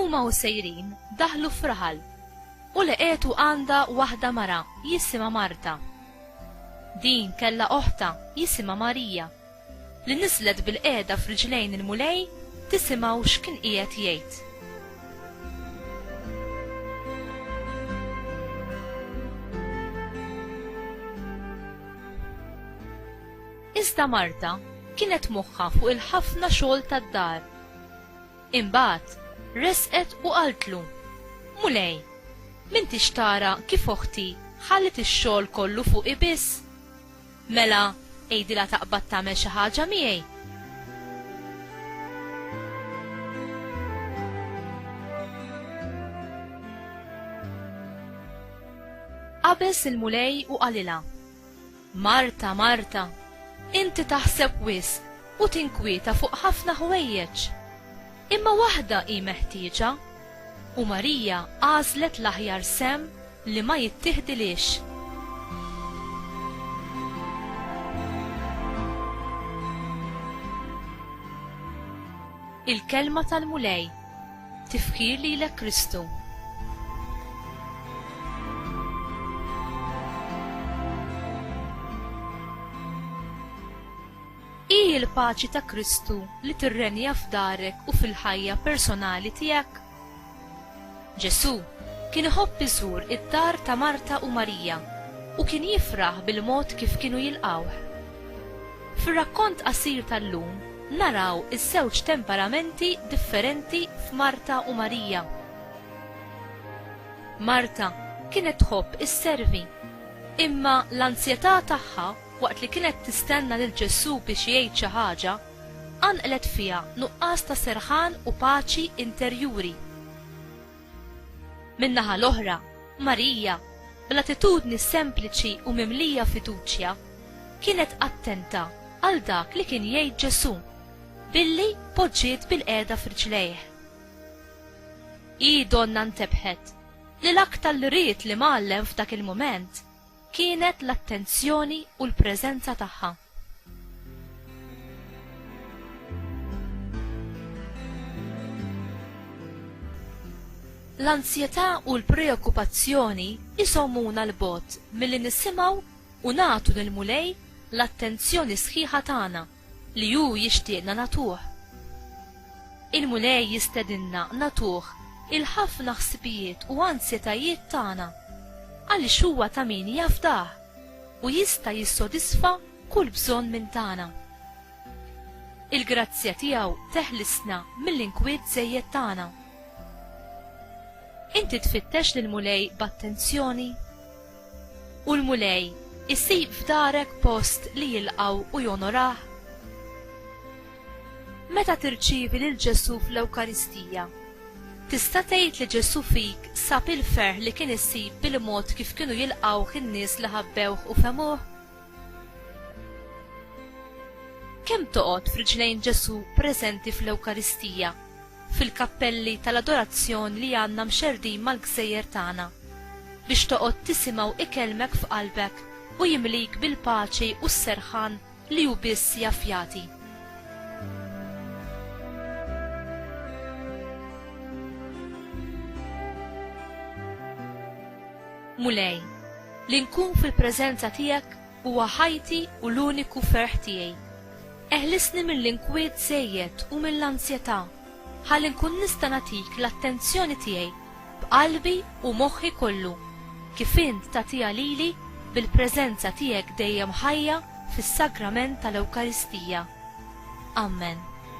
Huma u sejrin daħlu f'raħal u leqetu għandha waħda mara jisimha Marta. Din kellha oħta jisimha Marija li niżlet bilqiegħda f'riġlejn il-Mulej tisimgħu x'kien qiegħed jgħid. Iżda Marta kienet moħħha fuq il-ħafna xogħol tad-dar. Imbagħad resqet u qaltlu, Mulej, m'intix tara kif oħti ħallet ix-xogħol kollu fuqi biss? Mela, għidilha taqbad tagħmel xi ħaġa miegħi. qabeż il-Mulej u qalilha. Marta, Marta, inti taħseb wis u tinkwieta fuq ħafna ħwejjeġ. Imma waħda hi meħtieġa u Marija għażlet l-aħjar sem li ma jittieħdilhiex. Il-Kelma tal-Mulej, Tifħir lilek Kristu. Hi l-paċi ta' Kristu li tirrenja f'darek u fil-ħajja personali tiegħek. Ġesù kien iħobb iżur id-dar ta' Marta u Marija u kien jifraħ bil-mod kif kienu jilqgħuh. Fir-rakkont qasir tal-lum naraw iż-żewġ temperamenti differenti f'Marta u Marija. Marta kienet tħobb isservi, imma l-anzjetà tagħha waqt li kienet tistenna lil Ġesù biex jgħid xi ħaġa, qanqlet fiha nuqqas ta' serħan u paċi interjuri. Min-naħa l-oħra, Marija, bl-attitudni sempliċi u mimlija fiduċja, kienet attenta għal dak li kien jgħid Ġesù billi poġġiet bilqiegħda f'riġlejh. Hi donnha ntebħet li l-aktar li ried l-Imgħallem f'dak il-mument kienet l-attenzjoni u l-preżenza tagħha. L-ansjetà u l-preokkupazzjoni isomuna l-bogħod milli nisimgħu u nagħtu lill-Mulej l-attenzjoni sħiħa tagħna. Li hu jixtieqna nagħtuh. Il-Mulej jistedinna nagħtuh il-ħafna ħsibijiet u ansjetajiet tagħna, għaliex huwa ta' min jafdah u jista' jissodisfa kull bżonn minn tagħna. Il-grazzja tiegħu teħlisna mill-inkwiet żejjed tagħna. Inti tfittex lill-Mulej b'attenzjoni? U l-Mulej isib f'darek post li jilqgħu u jonorah? Meta tirċievi lil Ġesù fl-Ewkaristija, tista' tgħid li Ġesù fik sab il-ferħ li kien isib bil-mod kif kienu jilqgħuh in-nies li ħabbewh u fehmuh? Kemm toqgħod f'riġlejn Ġesù preżenti fl-Ewkaristija, fil-kappelli tal-adorazzjon li għandna mxerrdin mal-gżejjer tagħna, biex toqgħod tisimgħu ikellmek f'qalbek u jimlik bil-paċi u s-serħan li hu biss jaf jagħti. Mulej, Li nkun fil-preżenza tiegħek huwa ħajti u l-uniku ferħ tiegħi. Eħlisni mill-inkwiet żejjed u mill-anzjetà, ħalli nkun nista' nagħtik l-attenzjoni tiegħi b'qalbi u moħħi kollu, kif int tagħtiha lili bil-preżenza tiegħek dejjem ħajja fis-Sagrament tal-Ewkaristija. Amen.